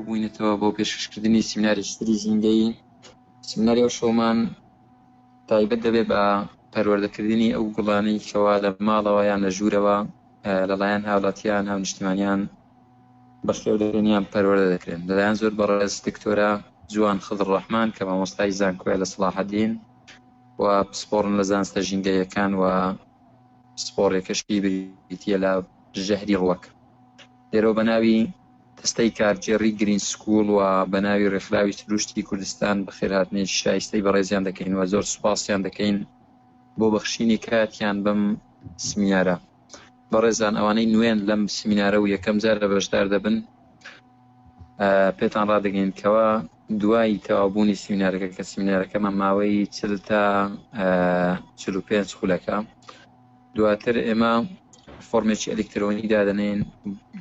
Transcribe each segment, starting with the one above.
بووینەتەوە بۆ پێشکەشکردنی سیمیناری ستری زیندەی سیمیناری ئەو شۆمان تایبەت دەبێت بە پەروەردەکردنی ئەو گوڵانەی کەوا لە ماڵەوە یان لە ژوورەوە لەلایەن هاوڵاتیان هاونیشتمانیان بەخێو دەکرێن یان پەروەردە دەکرێن لەلایەن زۆر بەڕێز دکتۆرە جوان خضر ڕەحمان کە مامۆستای زانکۆیە لە سڵاحەدین و پسپۆڕن لە زانستە ژینگەیەکان و پسپۆڕێکەشی بریتە لە ژەهری ڕوەک لێرەوە بە ناوی دەستەی کارگێڕی گرین سکوڵ و بە ناوی ڕێکخراوی سروشتی کوردستان بەخێرهاتنی شایستەی بەڕێزیان دەکەین و زۆر سوپاسیان دەکەین بۆ بەخشینی کاتیان بەم سمینارە بەڕێزان ئەوانەی نوێن لەم سمینارە و یەکەم جارە بەشدار دەبن پێتان ڕدەگەین کەەوە دوای تەوابوونی سمینارەکە کە سمینارەکەمان ماوەی چل تا چ پێنج خولەکە دواتر ئێمە فۆرمێکی ئەلکترۆنی دادەنین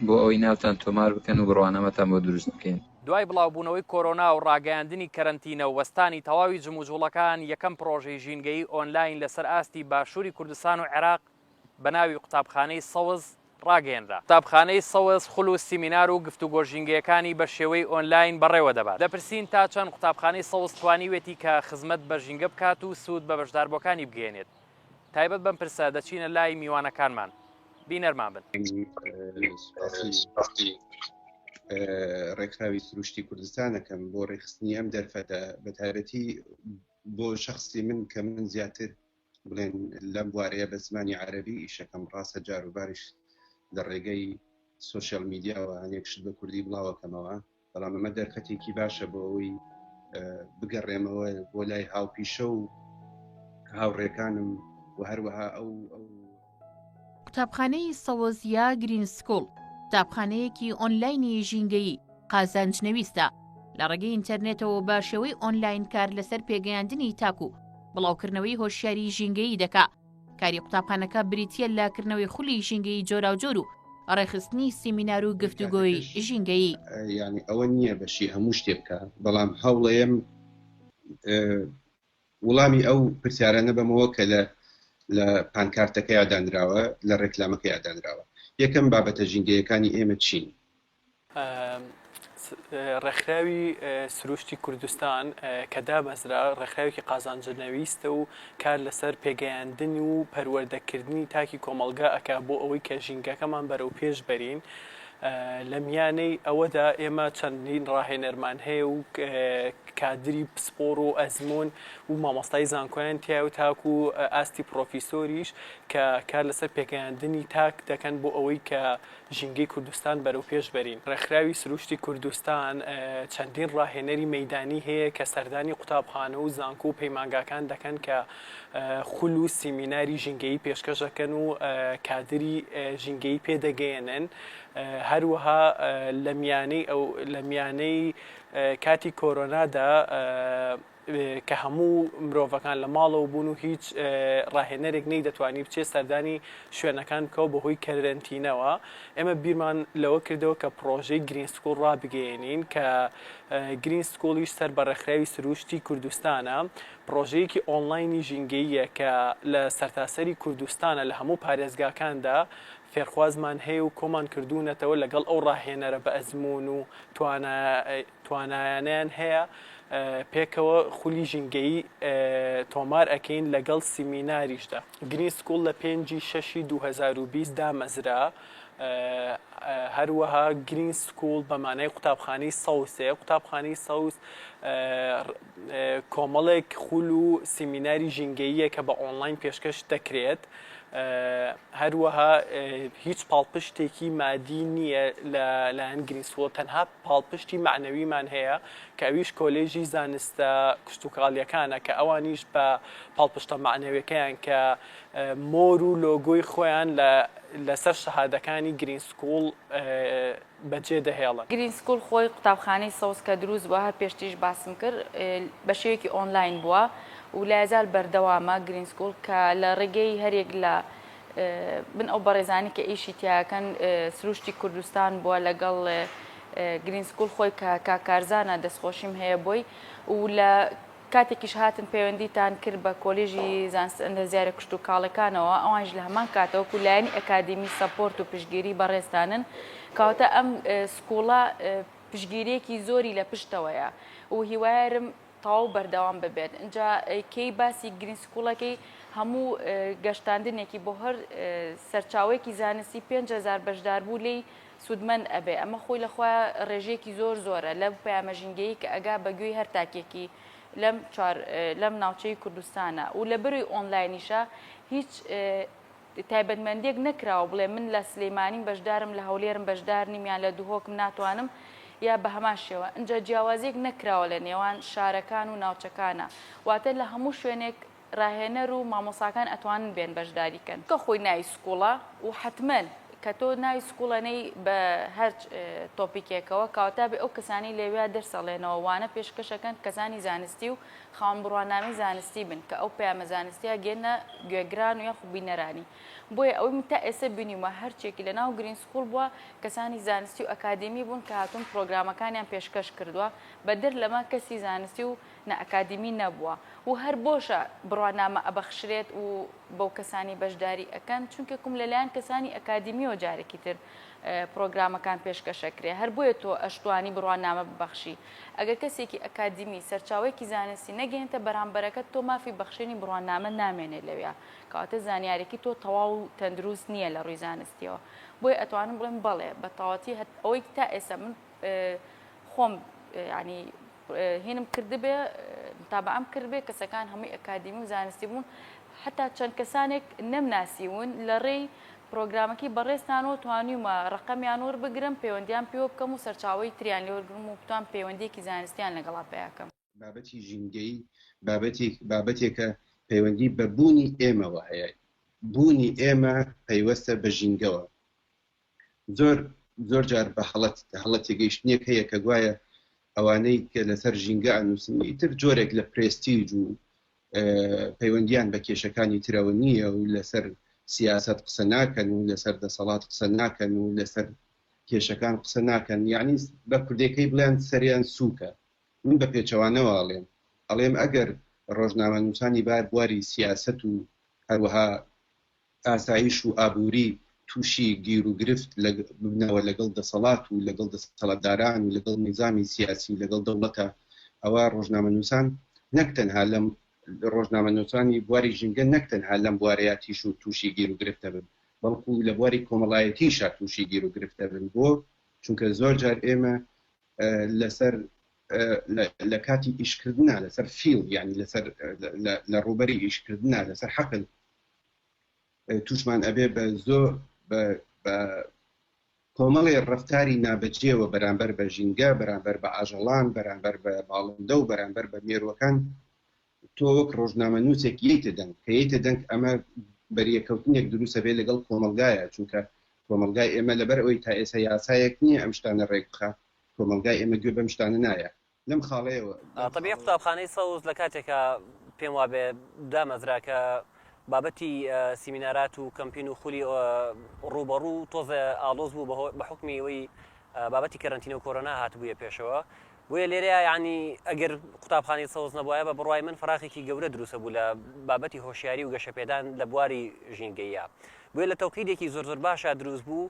بۆ ئەوەی ناوتان تۆمار بکەن و بڕوانەمەتان بۆ دروست بکەین دوای بڵاوبوونەوەی کۆرۆنا و ڕاگەیاندنی کەرنتینە و وەستانی تەواوی جموجوڵەکان یەکەم پرۆژەی ژینگەی ئۆنلاین لەسەر ئاستی باشووری کوردستان و عێراق بە ناوی قوتابخانەی سەوز ڕاگەیەنرا. قوتابخانەی سەوز خول و سیمینار و گفتوگۆ ژینگەیەکانی بە شێوەی ئۆنلاین بەڕێوە دەبات. دەپرسین تا چەند قوتابخانەی سەوز توانیوێتی کە خزمەت بە ژینگە بکات و سوود بە بەشداربووەکانی بگەیەنێت؟ تایبەت بەم پرسە دەچینە لای میوانەکانمان. بینەرمان بن. سوپاسی ڕێکخراوی سروشتی کوردستان ئەکەم بۆ ڕێکخستنی ئەم دەرفەتە، بەتایبەتی بۆ شەخسی من کە من زیاتر بڵێن لەم بوارەیە بە زمانی عەرەبی ئیشەکەم ڕاستە جاروباریش لە ڕێگەی سوسیال میدیاوە هەنێک شت بە کوردی بڵاوەکەمەوە بەڵام ئەمە دەرفەتێکی باشە بۆ ئەوی بگەڕێمەوە بۆ لای هاوپیشە و هاوڕێکانم و هەروەها ئەو ئەو قوتابخانەی سەوەزیا گرین سکوڵ قوتابخانەیەکی ئۆنلاینی ژینگەیی قازانج نەویستە لە ڕێگەی ئینتەرنێتەوە بە شێوەی ئۆنلاین کار لەسەر پێگەیاندنی تاک و بڵاوکردنەوەی هۆشیاری ژینگەیی دەکا کاری قوتابخانەکە بریتە لە کردنەوەی خولی ژینگەی جۆراوجۆر و ڕێخستنی سیمینار و گفتوگۆی ژینگەیی ینی ئەوە نییە بەشی هەموو شتێ بکە بەڵام هەوڵەیەم وڵامی ئەو پرسیارانە بەمەوە کە لە لە پانکارتەکەیا دانراوە، لە ڕێکلامەکەیا دانراوە. یەکەم، بابەتە ژینگەیەکانی ئێمە چین؟ ە، ڕێکخراوی سرووشتی کوردستان کە دامەزرا، ڕێکخراوێکی قازانجنەویستە و کار لەسەر پێگەیاندن و پەروەردەکردنی تاکی کۆمەڵگا ئەکا بۆ ئەوەی کە ژینگەکەمان بەرەوپێش بەرین. لە میانەی ئەوەدا ئێمە چەندین ڕاهێنەرمان هەیە و کادری پسپۆڕ و ئەزموون و مامۆستای زانکۆیان تیا و تاکو ئاستی پرۆفیسۆریش کە کار لەسەر پێگەیاندنی تاک دەکەن بۆ ئەوەی کە ژینگەی کوردستان بەرەو پێش بەرین. ڕێکخراوی سروشتی کوردستان چەندین ڕاهێنەری مەیدانی هەیە کە سەردانی قوتابخانە و زانکۆ و پەیمانگاکان دەکەن کە خول و سیمیناری ژینگەیی پێشکەش ئەکەن و کادری ژینگەیی پێ دەگەیەنن هەروەها لە میانەی ئەو لە میانەی کاتی کۆرۆنادا کە هەموو مرۆڤەکان لە ماڵەوە بوون و هیچ ڕاهێنەرێک نەی دەتوانی بچێت سەردانی شوێنەکان بکەوە بەهۆی کەرەنتینەوە ئێمە بیرمان لەوە کردەوە کە پڕۆژەی گرین سکوڵ ڕابگەێنین کە گرین سکوڵیش سەر بە ڕێکخراوی سروشتی کوردستانە پڕۆژەیەکی ئۆنڵاینی ژینگەییە کە لە سەرتاسەری کوردستانە لە هەموو پارێزگاکاندا فێرخوازمان هەیە و کۆمان کردوونەتەوە لەگەڵ ئەو ڕاهێنەرە بە ئەزموون و توانایانەیان هەیە پێکەوە خولی ژینگەیی تۆمار ئەکەین لەگەڵ سیمیناریشدا. گرین سکوڵ لە پێنجی شەشی دوو هەزار و بیست دامەزرا هەروەها گرین سکوڵ بە مانای قوتابخانەی سەوسێ قوتابخانەی سەوز کۆمەڵێک خول و سیمیناری ژینگەییە کە بە ئۆنڵاین پێشکەش دەکرێت، هەروەها هیچ پاڵپشتێکی مادی نییە لە لایەن گرین سکوڵ، تەنها پاڵپشتی مەعنەویمان هەیە کە ئەویش کۆلێژی زانستە کشتوکاڵییەکانە کە ئەوانیش بە پاڵپشتە مەعنەویەکەیان کە مۆر و لۆگۆی خۆیان لەسەر شەهادەکانی گرین سکوڵ بەجێ دەهێڵن. گرین سکوول خۆی قوتابخانەی سەوز کە دروست بووە هەر پێشتریش باسم کرد بە شێوەیەکی ئۆنلاین بووە و لە یزار بەردەوامە گرین سکوول کە لە ڕێگەی هەرێک لە من ئەو بەڕێزانی کە ئیشی تیاکەن سروشتی کوردستان بووە لەگەڵ گرین سکوول خۆی کە کاکارزانە دەستخۆشیم هەیە بۆی و لە کاتێکیش هاتن پەیوەندیتان کرد بە کۆلیژی زانستە ئەندەزیارە کشتوکاڵەکانەوە ئەوانیش لە هەمان کاتە وەکو لایەنی ئەکادیمی سەپۆرت و پشتگیری بەڕێزتانن کەواتە ئەم سکوڵە پشگیریەکی زۆری لە پشتەوەیە و هیوایارم تەواو بەردەوام ببێت ئینجا کێی باسی گرین سکوڵەکەی هەموو گەشتاندنێکی بۆ هەر سەرچاوەیەکی زانستی پێنج هەزار بەشداربوو لێی سوودمەند ئەبێ، ئەمە خۆی لە خۆیا ڕێژەیەکی زۆر زۆرە لەو پەیامە ژینگەیی کە ئەگا بە گوێی هەر تاکێکی لەم چوار لەم ناوچەی کوردستانە و لە بەروی ئۆنلاینیشە هیچ تایبەتمەندیەک نەکراوە بڵێ من لە سلەیمانیم بەشدارم لە هەولێرم بەشدار نیم یان لە دهۆکم ناتوانم یا بە هەمان شێوە ئەجا جیاوازیەک نەکراوە لە نێوان شارەکان و ناوچەکانە واتە لە هەموو شوێنێک ڕاهێنەر و مامۆساکان ئەتوانن بێن بەشداری کەن چونکە خۆی ناوی سکوڵە و حەتمەن کە تۆ ناوی سکوڵ ئەنێی بە هەر تۆپیکێکەوە کەواتە ئەبێ ئەو کەسانەی لەوێیا دەرس ئەڵێنەوە وانە پێشکەش ئەکەن کەسانی زانستی و خاوەن بڕوانامەی زانستی بن کە ئەو پەیامە زانستیە گێنە گوێگران و یاخو بینەرانی بۆیە ئەوەی من تا ئێستا بینیومە هەرچێکی لە ناو گرین سکوڵ بووە کەسانی زانستی و ئەکادیمی بوون کە هاتوون پرۆگرامەکانیان پێشکەش کردووە بەدەر لەمە کەسی زانستی و نە ئەکادیمی نەبووە و هەر بۆشە بڕوانامە ئەبەخشرێت و بەو کەسانی بەشداری ئەکەن چونکە کوم لەلایەن کەسانی ئەکادیمیەوە جارێکی تر پرۆگرامەکان پێشکەشەکرێ هەر بۆیە تۆ ئەشتوانی بڕوانامە ببەخشی ئەگەر کەسێکی ئەکادیمی سەرچاوەیەکی زانستی نەگەێنتە بەرامبەرەکەت تۆ مافی بەخشێنی بڕوانامە نامێنێ لەوێ کەواتە زانیارێکی تۆ تەواو و تەندروست نییە لە ڕووی زانستیەوە بۆی ئەتوانم بڵێم بەڵێ بە تەواتی هەت ئەوەی تا ئێستا من خۆم ینی هینم کردبێ متابەعەم کردبێ کەسەکان هەمووی ئەکادیمی و زانستی بوون حتا چەند کەسانێک نەمناسیون لە ڕێی پرۆگرامەکەی بەڕێزتانەوە توانیومە ڕقەمیان وەر بگرم پەیوەندیان پێوە بکەم و سەرچاوی تریان لێوەرگرم و بتوان پەیوەندیەکی زانستیان لەگەڵا پەیاکەم. بابەتی ژینگەیی بابەتێک بابەتێکە پەیوەندی بە بوونی ئێمەوە هەیە بوونی ئێمە پەیوەستە بە ژینگەوە زۆر زۆر جار بە هەڵەت هەڵە تێگەیشتنێک هەیە کە گوایە ئەوانەی کە لەسەر ژینگە ئەنووسن ئیتر جۆرێک لە پرێستیج و پەیوەندیان بە کێشەکانی ترەوە نییە و لەسەر سیاست قسە ناکەن و لەسەر دەسەڵات قسە ناکەن و لەسەر کێشەکان قسە ناکەن یعنی بە کوردێکەی بڵێن سەریان سووکە من بە پێچەوانەواڵێن ئەڵێم ئەگەر ڕۆژنامە نووسانی بار بواری سیاست و هەروەها ئاسایش و ئابووری تووشی گیروگرفت ببنەوە لەگەڵ دەسەڵات و لەگەڵ دەسەڵاتداران و لەگەڵ نیزامی سیاسی و لەگەڵ دەوڵەتە، ئەوا ڕۆژنامەنووسان نەک تەنها لەم ڕۆژنامەنووسانی بواری ژینگە نەک تەنها لەم بوارەیا تیش و تووشی گیروگرفت دەبن، بەڵکوو لە بواری کۆمەڵایەتیشا تووشی گیروگرفت دەبن. بۆ؟ چونکە زۆر جار ئێمە لەسەر لە کاتی ئیشکردنا لەسەر فیڵد یانی لەسەر لە ڕووبەری ئیشکردنا لەسەر حەقل تووشمان ئەبێ بە زۆر بە کۆمەڵی ڕفتاری نابەجێەوە بەرامبەر بە ژینگە بەرامبەر بە ئاژەڵان بەرامبەر بە باڵندە و بەرامبەر بە مێروەکان تۆ وەک ڕۆژنامە نووسێک یتە دەنگ کەیتە دەنگ ئەمە بەریەکەوتنێک دروستە بێ لەگەڵ کۆمەلگایە چونکە کۆمەلگای ئێمە لەبەر ئەوی تا ئێسە یاسایەک نییە ئەم شتانە ڕێک بخە کۆمەلگای ئێمە گوێ بەم شتانە نایە لەم خاڵەیەوە لەم تەبیعی خاڵەوە قوتابخانەی سەوز لە کاتێکا پێم وابێ دامەزرا کە بابەتی ە، سیمینارات و کەمپین و خولی ە، ڕووبەڕوو تۆزێ ئاڵۆز بوو بە هۆ بە حوکمی ئەوەی ە، بابەتی کەرەنتینە و کۆرۆنا هاتبوویە پێشەوە بۆیە لێرەیا یەعنی ئەگەر قوتابخانەی سەوز نەبوایە بە بڕوای من فەراخێکی گەورە دروسە بوو لە بابەتی هۆشیاری و گەشەپێدان لە بواری ژینگەییا بۆیە لە تەوقیدێکی زۆر زۆر باشا دروست بوو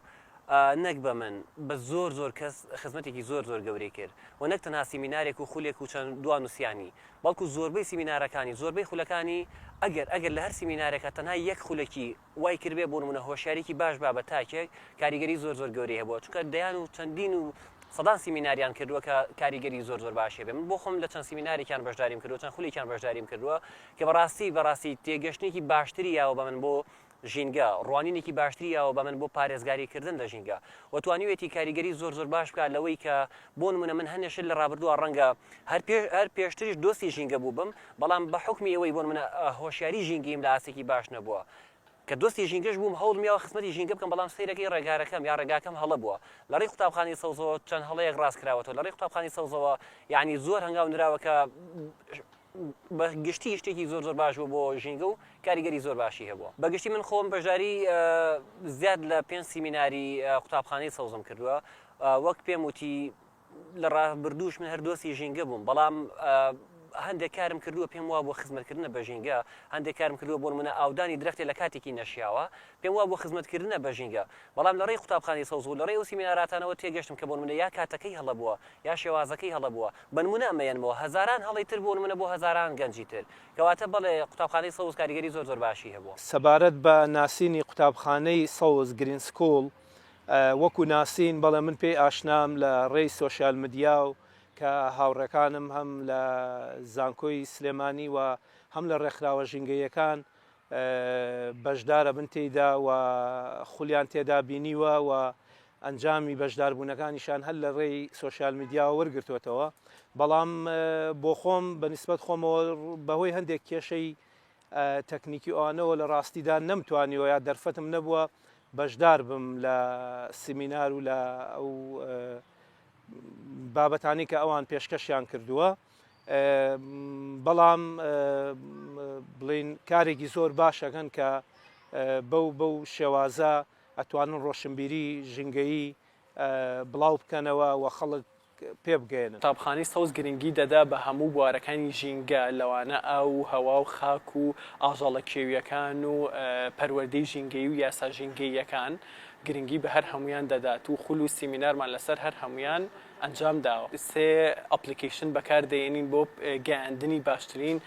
ئا نەک بە من بە زۆر زۆر کەس خزمەتێکی زۆر زۆر گەورەی کرد و نەک تەنها سیمینارێک و خولێک و چەند دوا نوسیانی بەڵکو زۆربەی سیمینارەکانی زۆربەی خولەکانی ئەگەر ئەگەر لە هەر سیمینارێکا تەنها یەک خولەکی وای کردبێ بۆ نمونە هۆشیاریکی باش با بە تاکێک کاریگەری زۆر زۆر گەورەی هەبووە چونکە دەیان و چەندین و سەدان سیمیناریان کردووە کە کاریگەری زۆر زۆر باشی هەبێ من بۆ خۆم لە چەند سیمینارێکیان بەشداریم کردووە چەند خولێکیان بەشداریم کردووە کە بەڕاستی بەڕاستی تێگەشتنێکی باشتری یاوە بە من بۆ ژینگە، ڕوانینێکی باشتری یاوە بە من بۆ پارێزگاری کردن لە ژینگە و توانیوێتی کاریگەری زۆر زۆر باش بکات لەوەی کە بۆ نمونە من هەندێک شت لە ڕابردووە ڕەنگە هەر پێش هەر پێشتریش دۆستی ژینگە بووبم بەڵام بە حوکمی ئەوەی بۆ نمونە هۆشیاری ژینگەیم لە ئاستێکی باش نەبووە کە دۆستی ژینگەش بووم هەوڵم یاوە خزمەتی ژینگە بکەم بەڵام سەیرەکەی ڕێگارەکەم یا ڕێگاکەم هەڵە بووە لە ڕێی قوتابخانەی سەوزەوە چەند هەڵەیەک ڕاست کراوەتەوە لە ڕێی قوتابخانەی سەوزەوە یانی زۆر هەنگاو نراوە کە بە گشتی شتێکی زۆر زۆر باش بوو بۆ ژینگە و کاریگەری زۆر باشی هەبووە بە گشتی من خۆم بەژاری زیاد لە پێنج سیمیناری قوتابخانەی سەوزم کردووە وەک پێم وتی لە ڕابردووش من هەردۆسی ژینگە بووم بەڵام هەندێک کارم کردووە پێم وا بۆ خزمەتکردنە بە ژینگە هەندێک کارم کردووە بۆ منە ئاودانی درختی لە کاتێکی نەشیاوە پێم وابووە خزمەتکردنە بە ژینگە، بەڵام لە ڕێی قوتابخانەی سەوز و لە ڕێی ئەو سیمیناراتانەوە تێگەشتم کە بۆنمونە یا کاتەکەی هەڵە بووە یا شێوازەکەی هەڵە بووە، بەنمونە ئەمەیەنمەوە هەزاران هەڵەی تر بۆنمونە بۆ هەزاران گەنجی تر. کەواتە بەڵێ قوتابخانەی سەوز کاریگەری زۆر زۆر باشی هەبووە. سەبارەت بە ناسینی قوتابخانەی سەوز، Green School، وەکو ناسین، بەڵێ من پێی ئاشنام لە ڕێی سۆشیال مدیا و کە هاوڕێکانم هەم لە زانکۆی سلێمانی و هەم لە ڕێکخراوە ژینگەییەکان بەشداربن تێیدا و خولیان تێدا بینیوە و ئەنجامی بەشداربوونەکانیشان هەر لە ڕێی سۆشیال میدیاوە وەرگرتووەتەوە بەڵام بۆ خۆم بە نسبەت خۆمەوە بەهۆی هەندێک کێشەی تەکنیکی ئەوانەوە لە ڕاستیدا نەمتوانیەوە یا دەرفەتم نەبووە بەشدار بم لە سیمینار و لە ئەو بابەتانی کە ئەوان پێشکەشیان کردووە بەڵام بڵین کارێکی زۆر باشەکەن کە بەو بەو شێوازە ئەتوانن ڕۆشنبیری ژنگەیی بڵاو بکەنەوە و خەڵک پێ بگەێنن قوتابخانەی سەوز گرنگی دەدا بە هەموو بوارەکانی ژینگە لەوانە ئاو و هەوا و خاک و ئاژەڵە کێوییەکان و پەروەردەی ژینگەیی و یاسا ژینگەییەکان گرنگی بە هەر هەموویان دەدات و خول و سیمینارمان لەسەر هەر هەموویان ئەنجام داوە. سێ ئەپڵیکەیشن بەکار دەینین بۆ گەیاندنی باشترین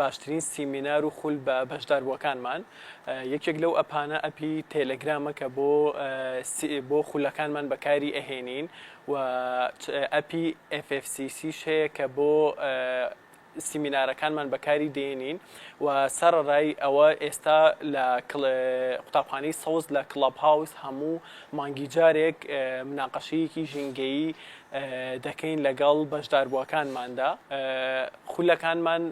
باشترین سیمینار و خول بە بەشداربووەکانمان یەکێک لەو ئەپانە ئەپی تێلێگرامە کە بۆ بۆ خولەکانمان بەکاری ئەهێنین و ئەپی FFCC شەیە کە بۆ سیمینارەکانمان بەکاری دێنین و سەڕەرای ئەوە ئێستا لە قوتابخانەی سەوز لە کڵەب هاوس هەموو مانگی جارێک مناقەشەیەکی ژینگەیی دەکەین لەگەڵ بەشداربووەکانماندا خولەکانمان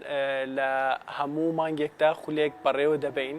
لە هەموو مانگێکدا خولێک بەڕێوە دەبەین.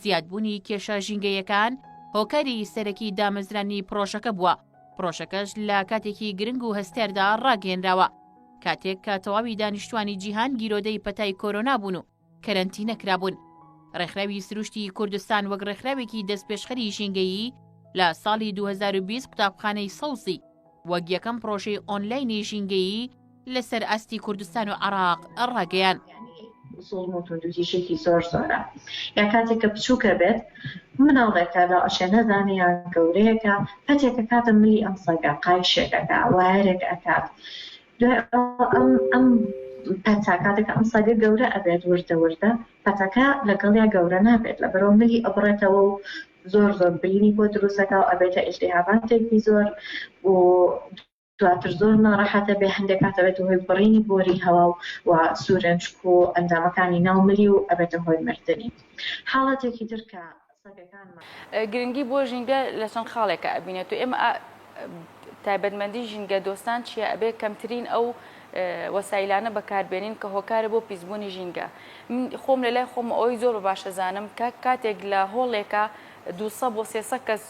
زیادبوونی کێشە ژینگەیەکان هۆکاری سەرەکی دامەزرانی پڕۆژەکە بووە، پڕۆژەکەش لە کاتێکی گرنگ و هەستیاردا ڕاگەیەنراوە، کاتێک کە تەواوی دانیشتوانی جیهان گیرۆدەی پەتای کۆرۆنا بوون و کەرەنتینە کرابوون. ڕێکخراوی سروشتی کوردستان وەک ڕێکخراوێکی دەستپێشخەری ژینگەیی، لە ساڵی دوو هەزار و بیست قوتابخانەی سەوزی وەک یەکەم پڕۆژەی ئۆنلاینی ژینگەیی لەسەر ئاستی کوردستان و عێراق ڕاگەیاند. زوڵم و توندوتیژیەکی زۆر زۆرە یا کاتێکە بچوکە بێت مناڵێکە لە ئەشێ نەزانێ یا گەورەیەکە پەتێک ئەکاتە ملی ئەم سەگە قایشێک ئەکا وایەرێک ئەکات دوای ئەم ئەم پەتا کاتێک ئەم سەگە گەورە ئەبێت وردە وردە پەتەکە لەگەڵیا گەورە نابێت لە بەرەو ملی ئەبڕێتەوە و زۆر زۆر برینی بۆ دروستەکە و ئەبێتە ئیلتیهاباتێکی زۆر و دواتر زۆر ناڕەحەت ئەبێ هەندێک کات ئەبێتە هۆی بڕینی بۆری هەوا و و سوورنجک و ئەندامەکانی ناو ملی و ئەبێتە هۆی مردنی حاڵەتێکی تر کە گرنگی بۆ ژینگە لە چەند خاڵێکە ئەبینێت و ئێمە تایبەتمەندی ژینگە دۆستان چیە ئەبێ کەمترین ئەو وەسایلانە بەکاربێنین کە هۆکارە بۆ پیسبوونی ژینگە من خۆم لە لای خۆم ئەوی زۆر بە باشەزانم کە کاتێک لە هۆڵێکە دوسە بۆ سێسە کەس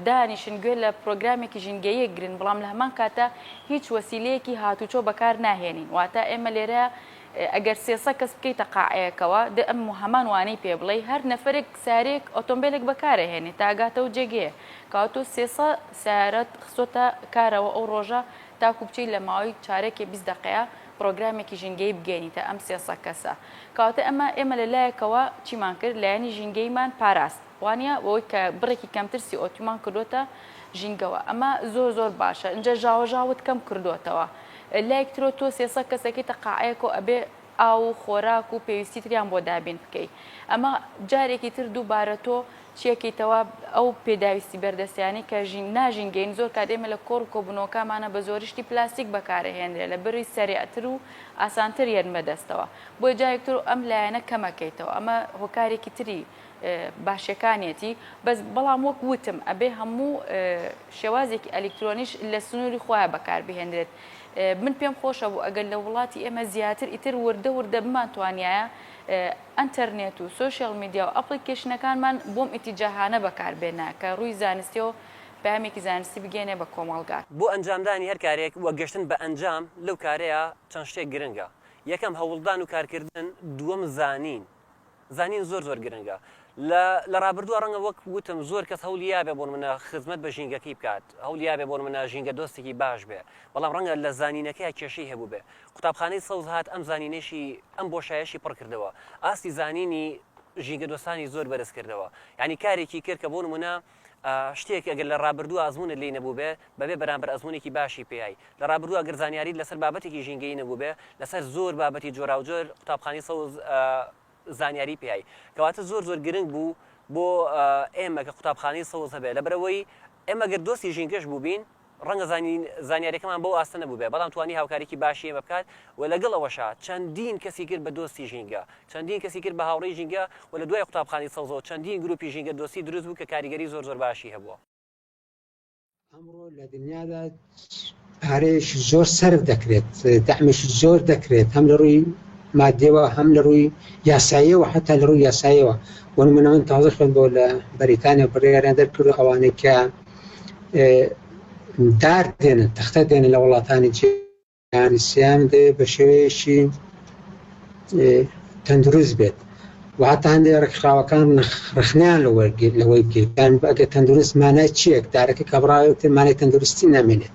دانیشن گوێ لە پرۆگرامێکی ژینگەیی گرن، بەڵام لە هەمان کاتدا هیچ وەسیلەیەکی هاتوچۆ بەکار ناهێنین، واتە ئێمە لێرە ئەگەر سێ سە کەس بکەیتە قاعەیەکەوە دە ئەم هەمان وانەی پێ بڵێی هەر نەفەرێک سارێک ئۆتۆمبیلێک بەکارەهێنێت تا گاتەوە جێگەیە کاتۆ سێ سە سارەت خسۆتە کارەوە ئەو ڕۆژە تاکو بچی لە ماوەی چارەکێ بیست دەقەیە پرۆگرامێکی ژینگەی بگەێنیتە ئەم سێ سە کەسە کاتە ئەمە ئێمە لە لایەکەوە چیمان کرد لایەنی ژینگەیمان پاراست وانیە بەوەی کە بڕێکی کەمتر سی ئۆ تومان کردۆتە ژینگەوە ئەمە زۆر زۆر باشە ئینجا ژاوە ژاوت کەم کردۆتەوە لایەک ترۆ تۆ سێ سەد کەسەکەیتە قاعەیەکۆ ئەبێ ئاو و خۆراک و پێویستی تریان بۆ دابین بکەی ئەمە جارێکی تر دووبارە تۆ چیەکەیتەوە ئەو پێداویستی بەردەستیانی کە ژین ناژینگەین زۆر کات ئێمە لە کۆڕ و کۆبنەوەکامانە بە زۆری شتی پلاستیک بەکارەهێنرێ لە بری سەریعتر و ئاسانتر یەن بەدەستەوە بۆیە جارێک تر ئەم لایەنە کەمەکەیتەوە ئەمە هۆکارێکی تری باشەکانیەتی بەس بەڵام وەک وتم ئەبێ هەموو شێوازێکی ئەلیکترۆنیش لە سنووری خۆیان بەکاربهێنرێت من پێم خۆشە بوو ئەگەر لە وڵاتی ئێمە زیاتر ئیتر وردە وردە بمان توانایە ئەتەرنێت و سوۆشیال میدیا و ئەپلیکیشنەکانمان بۆم ئیتیجاهانە بەکاربێنە کە ڕووی زانستی و پامێکی زانستی بگەێنێ بە کۆمەڵگا. بۆ ئەنجامدانی هەر کارێک و گەشتن بە ئەنجام لەو کارەیە چەند شتێک گرنگە، یەکەم هەوڵدان و کارکردن، دووەم زانین، زانین زۆر زۆر گرنگە لە لە ڕابردووە ڕەنگە وەک وتم زۆر کەس هەولی یابێ بۆن منە خزمەت بە ژینگەکەی بکات هەولی یابێ بۆن منە ژینگە دۆستێکی باش بێ بەڵام ڕەنگە لە زانینەکەی کێشەی هەبوو بێ قوتابخانەی سەوز هاات ئەم زانینێکی ئەم بۆ شایشی پڕ کردەوە ئاستی زانینی ژینگە دۆستانی زۆر بەرز کردەوە یعنی کارێکی کرد کە بۆن منە شتێک ئەگەر لە ڕابردوو ئازمونت لی نەبووبێ بەبێ بەرامبەر ئەزمونێکی باشی پێیای لە ڕابردوو ئەگەر زانیاریت لەسەر بابەتێکی ژینگەیی نەبووبێ لەسەر زۆر بابەتی جۆراوجۆر قوتابخانی سەوز زانیاری پێیای کەواتە زۆر زۆر گرنگ بوو بۆ ئێمە کە قوتابخانەی سەوز هەبێ لەبرەوەی ئێمە گەر دۆستی ژینگەش بووبین ڕەنگە زانیاریەکەمان بەو ئاستە نەبووبێت، بەڵام توانی هاوکاریی باشی ئێمە بکات و لەگەڵ ئەوەشا چەندین کەسی کرد بە دۆستی ژینگە، چەندین کەسی کرد بە هاوڕێی ژینگە و لە دوای قوتابخانەی سەوزەوە چەندین گروپی ژینگە دۆستی دروست بوو کە کاریگەری زۆر زۆر باشی هەبووە. ئەمڕۆ لە دنیادا پارەیەکی زۆر سەرف دەکرێت، دەعمێکی زۆر دەکرێت هەم لە ڕووی ماددیەوە هەم لە ڕووی یاساییەوە حەتا لە ڕووی یاساییەوە بۆ نموونە من تازە خوێندنەوە لە بەریتانیا بڕیاریان دەرکردووە ئەوانەی کە دار دێنن تەختە دێنن لە وڵاتانی جیهانی سیام دێ بە شێوەیەکی تەندروست بێت و هەتا هەندێک ڕێکخراوەکان ڕخنیان لە وەرگێت لەوەی بگەن ئەگە تەندروست مانای چیەک دارەکە کە بڕاوێت مانای تەندروستی نامێنێت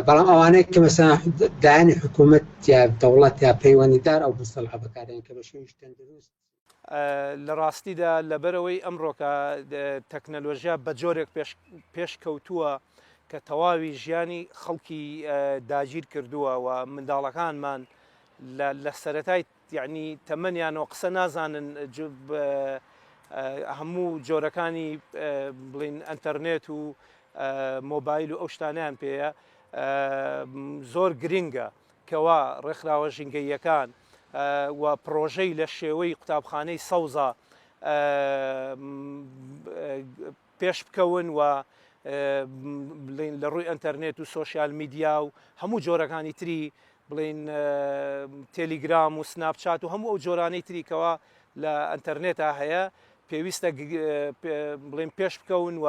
بەڵام ئەوانەیە کە مەسا دایانی حکوومەت یا دەوڵەت یا پەیوەندیدار ئەو بستەڵ هەبکارێن کە بە شێویش تەندروست لە ڕاستیدا لەبەرەوەی ئەمڕۆکە تەکنەلۆژیا بە جۆرێک پێش کەوتووە کە تەواوی ژیانی خەڵکی داگیر کردووە و منداڵەکانمان لە سەتای یعنی تەمەنیانەوە قسە نازانن هەموو جۆرەکانی بڵین ئەتەرنێت و مۆبایل و ئەو شتانیان پێەیە زۆر گرنگە کوا ڕێکخراوە ژینگەییەکان و پڕۆژەی لە شێوەی قوتابخانەی سەوزە پێش بکەون و بڵین لە ڕووی ئەتەرنێت و سوۆسیال میدیا و هەموو جۆرەکانی تری بڵین تەلیگرام و سناپچات و هەموو ئەو جۆرانەی تریکەوە لە ئەتەرنێتا هەیە پێویستە بڵێن پێش بکەون و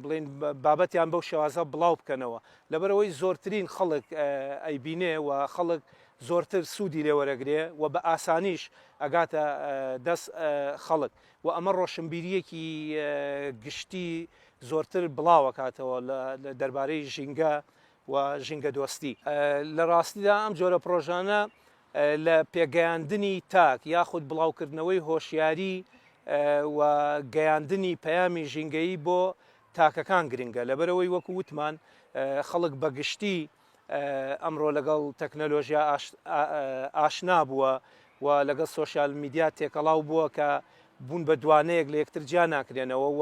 بڵێن بابەتیان بەو شێوازە بڵاو بکەنەوە لەبەرەوەی زۆرترین خەڵک ئەیبینێ و خەڵک زۆرتر سوودی لێوەرەگرێ و بە ئاسانیش ئەگاتە دەست خەڵک و ئەمە ڕۆشنبیریەکی گشتی زۆرتر بڵاوەکاتەوە لە دەربارەی ژینگە و ژینگە دۆستی لە ڕاستیدا ئەم جۆرە پرۆژانە لە پێگەیاندنی تاک یاخود بڵاوکردنەوەی هۆشیاری و گەیاندنی پەیامی ژینگەیی بۆ تاکەکان گرنگە لەبەرەوەی وەکو وتمان خەڵک بەگشتی ئەمڕۆ لەگەڵ تەکنەلۆژیا ئاشنا بووە و لەگەڵ سوۆسیال میدیا تێکەڵاو بووە کە بوون بە دوانەیەک لە یەکتر جیا ناکرێنەوە و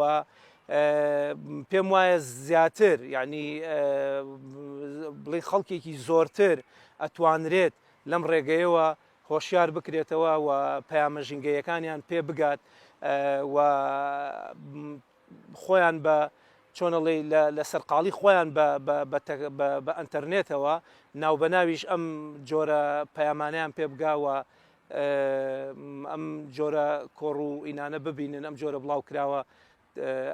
پێم وایە زیاتر یعنی بڵی خەڵکێکی زۆرتر ئەتوانرێت لەم ڕێگەیەوە هۆشیار بکرێتەوە و پەیامە ژینگەیەکانیان پێ بگات و خۆیان بە چۆنەڵی لە سەرقاڵی خۆیان بە ئەتەرنێتەوە ناوبەناویش ئەم جۆرە پەیامانیان پێ بگاوە ئەم جۆرە کۆڕ و ئینانە ببینن ئەم جۆرە بڵاو کراوە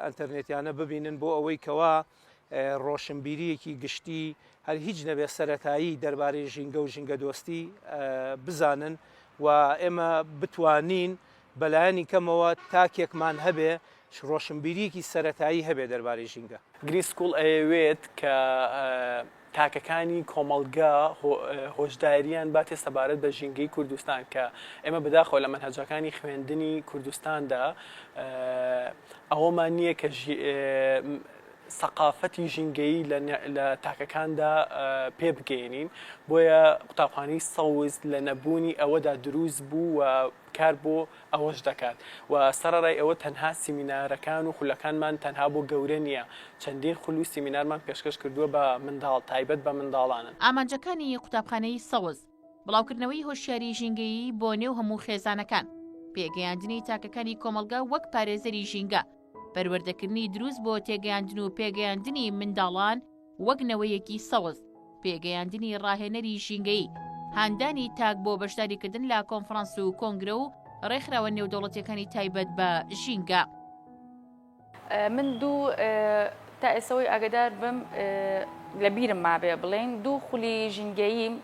ئەتەرنێتیانە ببینن بۆ ئەوەی کەوا ڕۆشنبیریەکی گشتی هەر هیچ نەبێ سەتایی دەربارەی ژینگە و ژینگە دۆستی بزانن و ئێمە بتوانین بەلایەنی کەمەوە تاکێکمان هەبێ ڕۆشنبیریەکی سەتایی هەبێ دەربارەی ژینگە گری سکوڵ ئەیەوێت کە تاکەکانی کۆمەڵگا هۆشدارییان باتێ سەبارەت بە ژینگەی کوردستان کە ئێمە بەداخەوە لە مەنهەجەکانی خوێندنی کوردستاندا ئەوەمان نییە کە سەقافەتی ژینگەیی لە تاکەکاندا پێ بگەێنین بۆیە قوتابخانەی سەوز لە نەبوونی ئەوەدا دروست بوو و کار بۆ ئەوەش دەکات و سەڕەرای ئەوە تەنها سیمینارەکان و خولەکانمان تەنها بۆ گەورە نییە، چەندین خول و سیمینارمان پێشکەش کردووە بە منداڵ، تایبەت بە منداڵان. ئامانجەکانی قوتابخانەی سەوز، بڵاوکردنەوەی هۆشیاریی ژینگەیی بۆ نێو هەموو خێزانەکان، پێگەیاندنی تاکەکانی کۆمەڵگا وەک پارێزەری ژینگە، پەروەردەکردنی دروست بۆ تێگەیاندن و پێگەیاندنی منداڵان وەک نەوەیەکی سەوز، پێگەیاندنی ڕاهێنەری ژینگەیی، هاندانی تاک بۆ بەشداریکردن لە کۆنفرانس و کۆنگرە و ڕێکخراوە نێودەوڵەتیەکانی تایبەت بە ژینگە. من دوو تا ئێسەوەی ئاگدار بم لە بیرم مابێ بڵێین دوو خولی ژینگەییم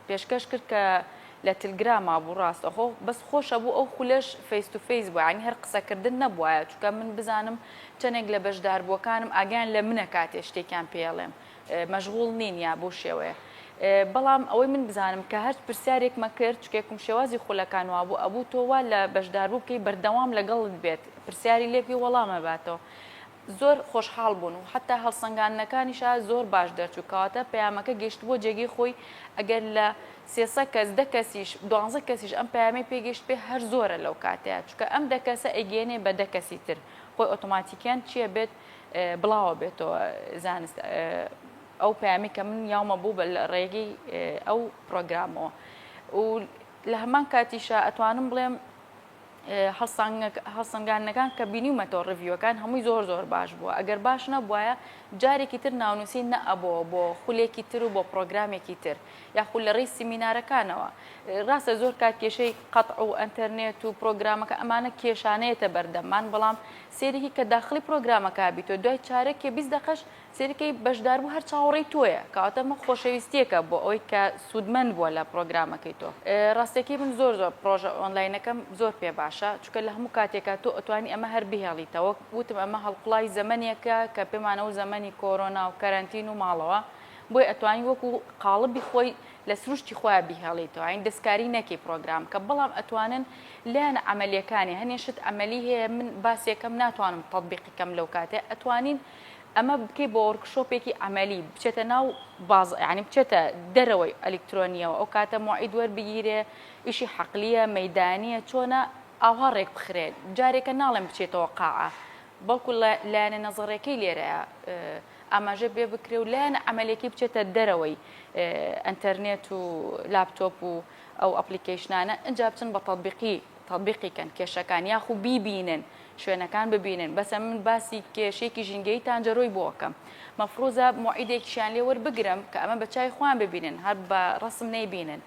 پێشکەش کرد کە لە تلگراما بوو ڕاست ئەخۆ بەس خۆش ئەبوو ئەو خولەش فەیس تو فەیس بوایە یانی هەر قسە کردن نەبوایە چونکە من بزانم چەنێک لە بەشداربووەکانم ئاگایان لە منە کاتێ شتێکیان پێ ئەڵێم مەشغوڵ نین یا بەو شێوەیە بەڵام ئەوەی من بزانم کە هەرچ پرسیارێکمە کرد چکێکم شێوازی خولەکان وابوو ئەبوو تۆ وا لە بەشداربوو بکەی بەردەوام لەگەڵت بێت پرسیاری لێبکەی وەڵامە باتەوە زۆر خۆشحاڵ بوون و حەتا هەڵسەنگاندنەکانیشا زۆر باش دەرچوو کەواتە پەیامەکە گەیشتبووە جێگەی خۆی ئەگەر لە سێ سە کەس دە کەسیش دوانزە کەسیش ئەم پەیامەی پێ گەیشتبێ هەر زۆرە لەو کاتەیا چونکە ئەم دە کەسە ئەیگەیەنێ بە دە کەسی تر خۆی ئۆتۆماتیکیان چیە بێت بڵاوە بێتەوە زانست ئەو پەیامی کە من یاومە بوو بە ڕێگەی ئەو پرۆگرامەوە و لە هەمان کاتیشە ئەتوانم بڵێم هەڵسەنگاندنەکان کە بینیومەتەوە ڕڤیوەکان هەمووی زۆر زۆر باش بووە ئەگەر باش نەبواە جارێکی تر ناونووسی نەئەبەوە بۆ خولێکی تر و بۆ پرۆگرامێکی تر یاخود لە ڕێی سیمینارەکانەوە ڕاستە زۆر کات کێشەی قەت و ئەتەرنێت و پرۆگرامەکە ئەمانە کێشانەیەتە بەردەمان بەڵام سێریکی کە داخلی پرۆگرامەکە بیتۆ دوای چارێک کێ بیست دەقەش سەیرکەی بەشداربوو هەر چاوەڕێی تۆیە کەواتە ئەمە خۆشەویستیەکە بۆ ئەوەی کە سوودمەند بووە لە پرۆگرامەکەی تۆ ڕاستەکەی من زۆر زۆر پرۆژە ئۆنلاینەکەم زۆر پێ باشە چکە لە هەموو کاتێکە تۆ ئەتوانی ئەمە هەر بهێڵیتەوە وتم ئەمە هەڵقڵای زەمنێکە کە پێمانەوە زەمەنی کۆرۆنا و کەرەنتین و ماڵەوە بۆی ئەتوانی وەکو قاڵبی خۆی لە سروشتی خۆیان بیهێڵیتەوە این دەستکاری نەکی پرۆگرام کە بەڵام ئەتوانن لایەن ئەعملیەکانی هەنێشت ئەمەلی هەیە من باسێکەم ناتوانم تطببیقیکەم لەو کاتێ ئەتوانین ئەمە بکەی بۆ وۆرکشۆپێکی عەمەلی بچێتە ناو باز یعنی بچێتە دەرەوەی ئەلیکترۆنیەوە ئەو کاتە موعید وەربگیرێ ئیشی حەقلیە مەدانیە چۆنە ئاوا ڕێک بخرێت جارێکە ناڵێن بچێتەوە قاعە بەڵکو لایەنە نەزەڕەکەی لێرە ئاماژە بێ بکرێ و لایەن ئەعملێکی بچێتە دەرەوەی ئەتەرنێت و لاپتۆپ و ئەو ئەپلیکیشنانە ئەجا بچن بە تەبیقی تەبیقی کەن کێشەکان یاخو بیبینن شوێنەکان ببینن بەسە من باسی کێشەیەکی ژینگەیی تانجەرۆی بۆ ئەکەم مەفروزە موعیدێکیشیان لێ وەربگرم کە ئەمە بە چاوی خۆیان ببینن هەر بە ڕەسم نەیبینن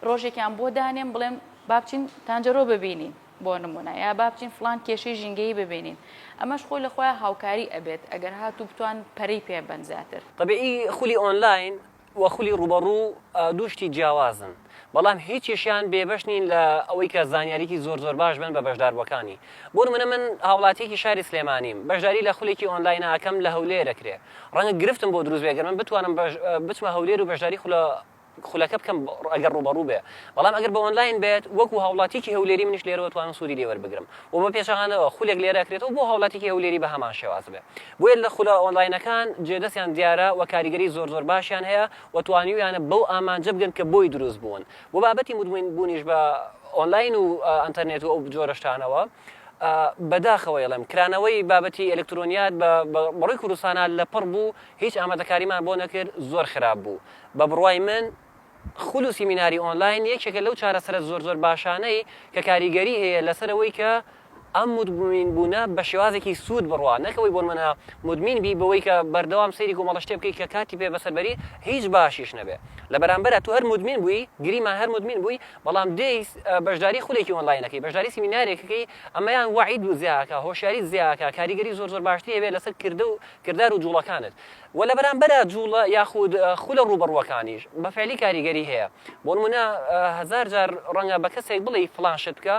ڕۆژێکیان بۆ دانێم بڵێم با بچین تانجەرۆ ببینین بۆ نمونە یا با بچین فڵان کێشەی ژینگەیی ببینین ئەمەش خۆی لە خۆیان هاوکاری ئەبێت ئەگەر هاتوو بتوان پەرەی پێ بەن زیاتر. طبیعی خولی ئۆنلاین و خولی ڕووبەڕوو دوو شتی جیاوازن، بەڵام هیچیشیان بێبەش نین لە ئەوەی کە زانیاریی زۆر زۆر باش بن بە بەشداربووەکانی. بۆ نموونە من هاوڵاتییەکی شاری سلێمانیم، بەشداری لە خولێکی ئۆنلاین ئەکەم لە هەولێر ئەکرێ، ڕەنگە گرفتم بۆ دروست بێ گەر من بتوانم بچمە هەولێر و بەشداری خولە خولەکە بکەم ئەگەر ڕووبەڕوو بێ، بەڵام ئەگەر بە ئۆنلاین بێت وەکوو هاوڵاتییەکی هەولێری منیش لێرەوە توانم سوودی لێ وەربگرم و بە پێچەوانەوە خولێک لێرە ئەکرێتەوە بۆ هاوڵاتییەکی هەولێری بە هەمان شێواز بێ. بۆیە لە خولە ئۆنلاینەکان جێدەستیان دیارە و کاریگەری زۆر زۆر باشیان هەیە و توانیویانە بەو ئامانجە بگەن کە بۆی دروست بوون و بابەتی مدمن بوونیش بە ئۆنلاین و ئەنتەرنێت و ئەو جۆرە شتانەوە بە داخەوە ئەڵێم کرانەوەی بابەتی ئەلکترۆنیات بە بەڕووی کوردستانا لە پڕ بوو هیچ ئامادەکاریمان بۆ نەکرد زۆر خراپ بوو بە بڕوای من خول و سیمیناری ئۆنلاین یەکێکە لەو چارەسەرە زۆر زۆر باشانەی کە کاریگەری هەیە لەسەر ئەوەی کە ئەم مدمین بوونە بە شێوازێکی سوود بڕوا نەک ئەوەی بۆنمونە مدمین بی بەوەی کە بەردەوام سەیری کۆمەڵە شتێ بکەی کە کاتی پێ بەسەر بەری هیچ باشیش نەبێ لە بەرامبەرا تو هەر مدمین بووی گریمان هەر مدمین بووی بەڵام دێی بەشداری خولێکی ئۆنلاین ئەکەی بەشداری سیمینارێک ئەکەی ئەمەیان وەعیت زیا ئەکا هۆشیاریت زیا ئەکا کاریگەری زۆر زۆر باشتری هەبێ لەسەر کردە و کردار و جوڵەکانت وە لە بەرامبەرا جوڵە یاخود خولە ڕووبەڕووەکانیش بە فعلی کاریگەری هەیە بۆ نمونە هەزار جار ڕەنگە بە کەسێک بڵێی فڵان شت بکە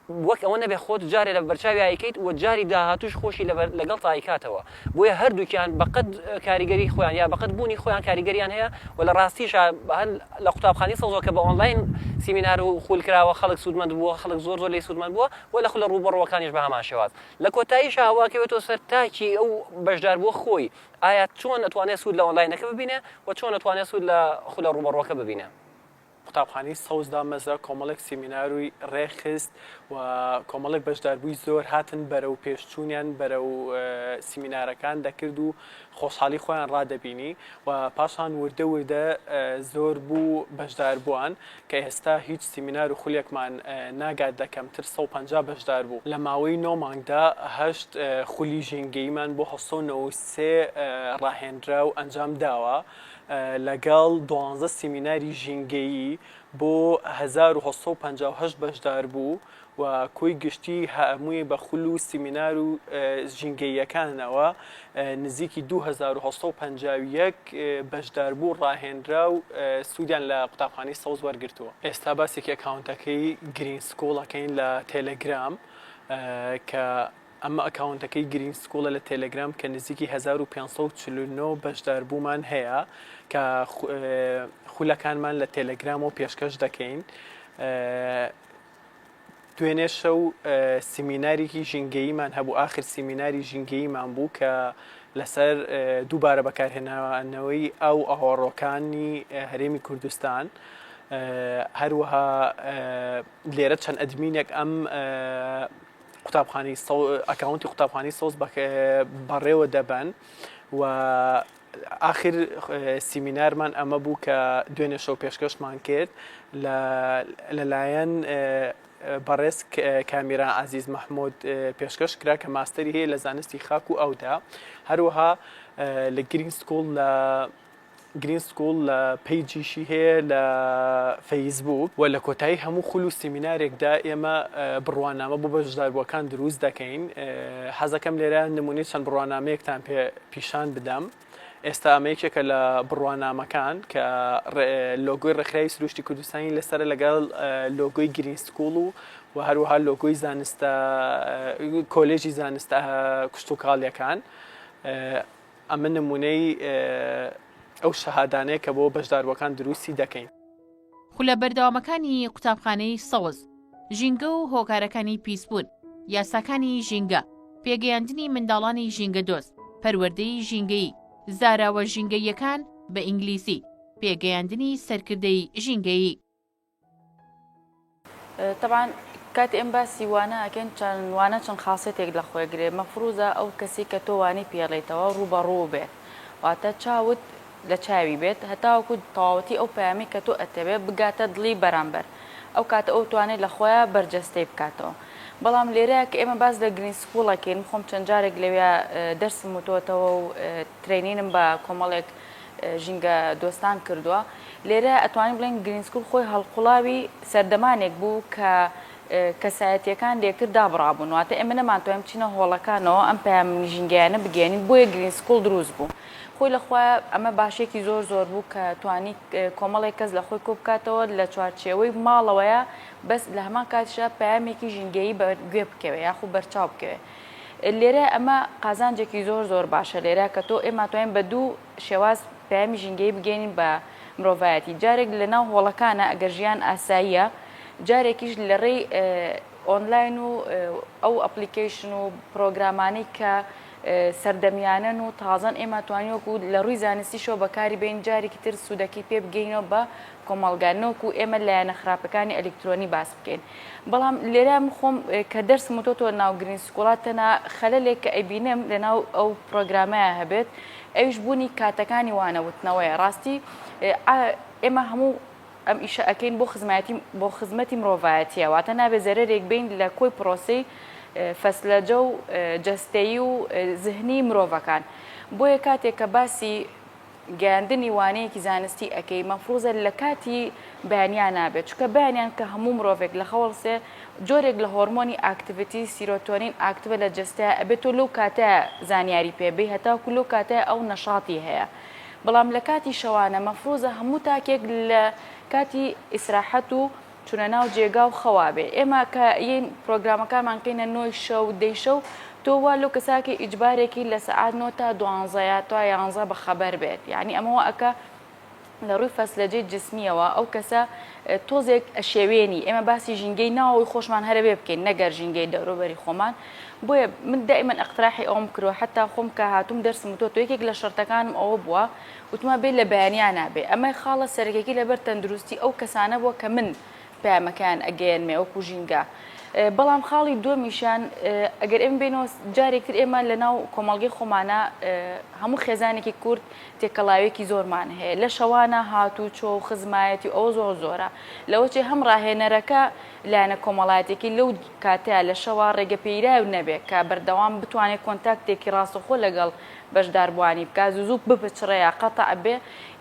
وەک ئەوە نەبێ خۆت جارێ لە بەرچاویا ئەیکەیت وە جاری داهاتووش خۆشی لەگەڵتا ئەیکاتەوە بۆیە هەردووکیان بە قەد کاریگەری خۆیان یا بە قەد بوونی خۆیان کاریگەریان هەیە وە لە ڕاستیشا هەر لە قوتابخانەی سەوزەوە کە بە ئۆنڵاین سیمینار و خول کراوە خەڵک سوودمەند بووە خەڵک زۆر زۆر لێی سوودمەند بووە وە لە خولە ڕووبەڕووەکانیش بە هەمان شێواز لە کۆتاییشا ئەو ئەکەوێتەوە سەر تاکی ئەو بەشداربووە خۆی، ئایا چۆن ئەتوانێت سوود لە ئۆنلاینەکە ببینێت و چۆن ئەتوانێت سوود لە خولە ڕووبەڕووەکە ببینێت. قوتابخانەی سەوز دامەزرا، کۆمەڵێک سیمیناروی ڕێکخست و کۆمەڵێک بەشداربووی زۆر هاتن بەرەو پێش چوونیان بەرەو سیمینارەکان دەکرد و خۆشحاڵی خۆیان ڕادەبینی و پاشان وردە وردە زۆر بوو بەشداربووان. کە ئێستا هیچ سیمینار و خولێکمان ناگات لە کەمتر سەد و پەنجا بەشدار بوو لە ماوەی نۆ مانگدا هەشت خولی ژینگەییمان بۆ هەشت سەد و نەوەد و سێ ڕاهێنرا و ئەنجام داوە لەگەڵ دوانزە سیمیناری ژینگەیی بۆ هەزار و هەشت سەد و پەنجا و هەشت بەشداربوو و کۆی گشتی هەامووی بە خول و سیمینار و ژینگەییەکانەوە نزیکی دوو هەزار و هەشت سەد و پەنجا و یەک بەشداربوو ڕاهێنرا و سوودیان لە قوتابخانەی سەوز وەرگرتووە. ئێستا باسێکی ئەکاونتەکەی گرین سکوڵ ئەکەین لە تێلێگرام کە ئەمە ئەکاونتەکەی گرین سکوڵە لە تێلێگرام کە نزیکی هەزار و پێنج سەد و چل و نۆ بەشداربوومان هەیە کە خولەکانمان لە تێلێگرامەوە پێشکەش دەکەین. دوێنێ شەو سیمیناریکی ژینگەییمان هەبوو ئاخر سیمیناری ژینگەییمان بوو کە لەسەر دووبارە بەکارهێنانەوەی ئاو ئاوەڕۆکانی هەرێمی کوردستان هەروەها لێرە چەند ئەدمینێک ئەم قوتابخانی ئەکاونتی قوتابخانی سۆز بەڕێوە دەبەن و ئاخر سیمینارمان ئەمە بوو کە دوێنێ شەو پێشکەشمان کرد لە لەلایەن بەڕێز کامیرا عزیز مححمود پێشکەش کرا کە ماستری هەیە لە زانستی خاک و ئەودا هەروەها لە گرین سکوڵ لە گرین سکوڵ لە پیجیشی هەیە لە فەیسبوک و لە کۆتایی هەموو خول و سیمینارێکدا ئێمە بڕوانامە بۆ بەشداربووەکان دروست دەکەین حەزەکەم لێرە نمونەی چەند بڕوانامەیەکتان پێ پیشان بدەم ئێستا ئەمە یەکێکە لە بڕوانامەکان کە لۆگۆی ڕێکخراوی سروشتی کوردستانی لەسەر لەگەڵ لۆگۆی گرین سکوڵ و و هەروەها لۆگۆی زانستە کۆلێژی زانستە کشتتوکاڵیەکان ئەمە نمونەی ئەو شەهادانەیە کە بۆ بەشداروەکان دروستی دەکەین. خولە بەردەوامەکانی قوتابخانەی سەوز، ژینگە و هۆکارەکانی پیسبوون، یاساکانی ژینگە، پێگەیاندنی منداڵانی ژینگەدۆست، پەروەردەی ژینگەیی، زاراوە ژینگەییەکان، بە ئینگلیزی، پێگەیاندنی سەرکردەی ژینگەیی. تەبعەن کاتێ ئێمە باسی وانە ئەکەین چەند وانە چەند خاسێتێک لە خۆی گرێ مەفروزە ئەو کەسی کە تۆ وانەی پێڵێیتەوە ڕووبەڕوو بێ واتە چاوت لە چاوی بێت هەتاوەکو تەواوەتی ئەو پەیامی کە تۆ ئەتەوێ بگاتە دڵی بەرامبەر ئەو کاتە ئەو توانێ لە خۆیا بەرجەستەی بکاتەوە بەڵام لێرەیا کە ئێمە باس لە گرین سکوڵ ئەکەین من خۆم چەند جارێک لەویا دەرسم وتۆتەوە و ترەینینم بە کۆمەڵێک ژینگە دۆستان کردووە. لێرە ئەتوانین بڵێین گرین سکوول خۆی هەڵقوڵاوی سەردەمانێک بوو کە کەسایەتییەکان لێکتر دابڕابوون، واتە ئێمە نەمانتوانی بچینە هۆڵەکانەوە ئەم پەیام ژینگەیانە بگەیەنین، بۆیە گرین سکوول دروست بوو. خۆی لە خۆی ئەمە باشییەکی زۆر زۆر بوو کە توانی کۆمەڵێک کەس لە خۆی کۆ بکاتەوە لە چوارچێوەی ماڵەوەیە، بەس لە هەمان کاتیشا پەیامێکی ژینگەیی بە گوێ بکەوێ یاخوو بەرچاو بکەوێ. لێرە ئەمە قازانجێکی زۆر زۆر باشە لێرە کە تۆ ئێمە توانین بە دوو شێواز پەیامی ژینگەیی بگەینین بە مرۆڤایەتی جارێک لە ناو هۆڵەکانە ئەگەر ژیان ئاساییە جارێکیش لە ڕێی ئۆنلاین و ئەو ئەپلیکیشن و پرۆگرامانەی کە سەردەمیانەن و تازەن ئێمە توانیوەکو لە ڕووی زانستیشەوە بەکاری بین جارێکی تر سوودەکەی پێ بگەینەوە بە کۆمەڵگا نەوەکو ئێمە لایەنە خراپەکانی ئەلیکترۆنی باس بکەین بەڵام لێرە من خۆم کە دەرسم وتۆتەوە ناو گرین سکوڵات تەنها خەلەلێک کە ئەیبینم لەناو ئەو پرۆگرامەیە هەبێت ئەویش بوونی کاتەکانی وانە وتنەوەیە ڕاستی ئێمە هەموو ئەم ئیشە ئەکەین بۆ خزمەتی بۆ خزمەتی مرۆڤایەتیە واتە نابێ زەرەرێک بین لە کۆی پرۆسی فەسلەجە و جەستەیی و زهنی مرۆڤەکان بۆیە کاتێک کە باسی گەیاندنی وانەیەکی زانستی ئەکەی مەفروزە لەکاتی بەیانیا نابێت چونکە بەیانیان کە هەموو مرۆڤێک لەخەوەڵسێ جۆرێک لە هۆرمۆنی ئاکتڤتی سیرۆتۆنین ئاکتڤە لە جەستەیا ئەبێت تۆ لەو کاتە زانیاری پێ بی هەتاکو لەو کاتە ئەو نەشاتی هەیە بەڵام لەکاتی شەوانە مەفروزە هەموو تاکێک لە کاتی ئیسراحەت و چونە ناو جێگا و خەوا بێ ئێمە کە یەین پرۆگرامەکانمان کەینە نۆی شەو دەی شەو تۆ وا لۆ کەساکی ئیجبارێکی لە سەعات نۆ تا دوانزە یا تا یانزە بە خەبەر بێت یانی ئەمە وا ئەکا لە ڕووی فەسلەجەی جسمیەوە ئەو کەسە تۆزێک ئەشێوێنی ئێمە باسی ژینگەی ناوەوەی خۆشمان هەرە بێ بکەین نەگەر ژینگەی دەوروبەری خۆمان بۆیە من دائیمەن ئەقتراحی ئەوم کرۆ حتا خۆم کە هاتووم دەرسم تۆ تۆ یەکێک لە شەرتەکانم ئەوە بووە وتمان بێ لە بەیانیا نابێ. ئەمە خاڵە سەرەکیەکەی لەبەر تەندروستی ئەو کەسانە بووە کە من پەیامەکەیان ئەگەیەنمێ وەکو ژینگە. بەڵام خاڵی دووەمیشیان ئەگەر ئێمە بێنەوە جارێک تر ئێمە لە ناو کۆمەڵگەی خۆمانە هەموو خێزانێکی کورد تێکەڵاوێکی زۆرمان هەیە لە شەوانە هاتوو چۆ و خزمایەتی ئەوە زۆر زۆرە لەوەچێ هەم ڕاهێنەرەکە لایەنە کۆمەڵایەتێکی لەو کاتەیە لە شەوا ڕێگە پێیراو نەبێ کە بەردەوام بتوانێت کۆنتاکتێکی ڕاستەخۆ لەگەڵ بەشداربووانی بکا زوزوک بپچڕێ یا قەتع بێ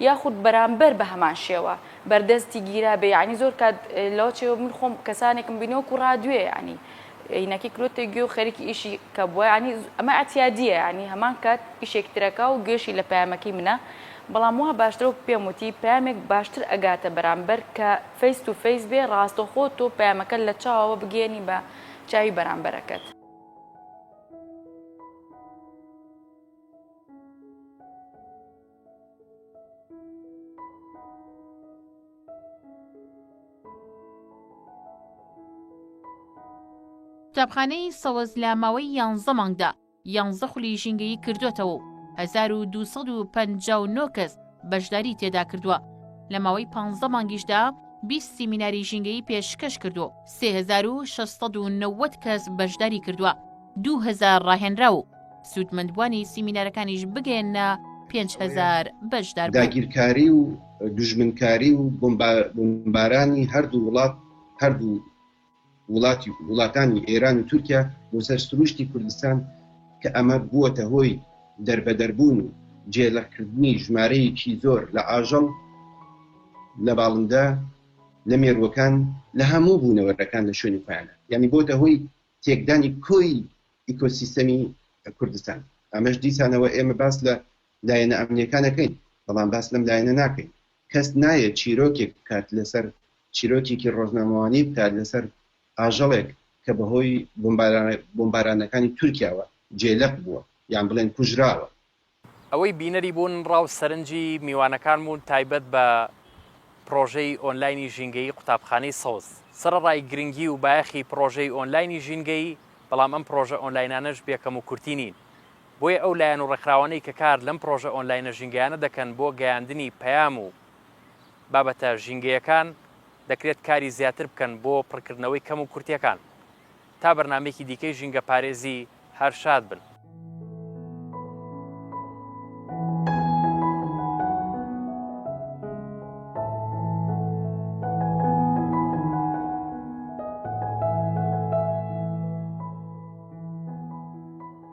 یاخود بەرامبەر بە هەمان شێوە بەردەستی گیرابێ یەعنی زۆر کات لەوە چێ من خۆم کەسانێکم بینی وەکو ڕادوێ یەعنی عینەکەی کرۆتە گوێ و خەریکی ئیشی کە بووە یەعنی ئەمە ئەتیادیە یەعنی هەمان کات ئیشێک ترەکا و گوێشی لە پەیامەکەی منە بەڵام وا باشترە وەک پێم وتی پەیامێک باشتر ئەگاتە بەرامبەر کە فەیس تو فەیس بێ ڕاستەوخۆ تۆ پەیامەکە لە چاوەوە بگەیەنی بە چاوی بەرامبەرەکەت. قوتابخانەی سەوەز لە ماوەی یانزە مانگدا یانزە خولی ژینگەیی کردوێتەوە و 1259 کەس بەشداری تێدا کردووە، لە ماوەی پانزدە مانگیشدا بیست سیمیناری ژینگەیی پێشکەش کردووە و سێ هەزار و شەش سەد و نەوەد کەس بەشداری کردووە، دوو هەزار ڕاهێنراو و سوودمەندبووانی سیمینارەکانیش بگەیەننە پێنج هەزار بەشدار بوون. داگیرکاری و دوژمنکاری و بۆمبارانی هەردوو وڵات هەردوو وڵاتانی ئێران و تورکیا بۆ سەر سرووشتی کوردستان کە ئەمە بووەتە هۆی دەربەدەربوون و جێلەقکردنی ژمارەیەکی زۆر لە ئاژەڵ لە باڵندە لە مێرووەکان لە هەموو بوونەوەرەکان لە شوێنی خۆیاندا یانی بۆتە هۆی تێکدانی کۆی ئیکۆسیستەمی کوردستان ئەمەش دیسانەوە ئێمە باس لە لایەنە ئەمنیەکانەکەین بەڵام باس لەم لایەنە ناکەین کەس نایەت چیرۆکێک بکات لەسەر چیرۆکێکی ڕۆژنامەوانی بکات لەسەر ئاژەڵێک کە بەهۆی بۆمبارانەکانی تورکیاوە جێلەق بووە یان بڵێن کوژراوە. ئەوەی بینەری بوون ڕاو سەرنجی میوانەکان بوون تایبەت بە پڕۆژەی ئۆنلاینی ژینگەیی قوتابخانەی سەوز سەرەڕای گرنگی و بایەخی پڕۆژەی ئۆنلاینی ژینگەیی بەڵام ئەم پڕۆژە ئۆنلاینانەش بێکەم و کورتی نین بۆیە ئەو لایەن و ڕێکخراوانەی کە کار لەم پڕۆژە ئۆنلاینە ژینگەیانە دەکەن بۆ گەیاندنی پەیام و بابەتە ژینگەیەکان، دەکرێت کاری زیاتر بکەن بۆ پڕکردنەوەی کەم و کورتیەکان. تا بەرنامەیەکی دیکەی ژینگەپارێزی، هەر شاد بن.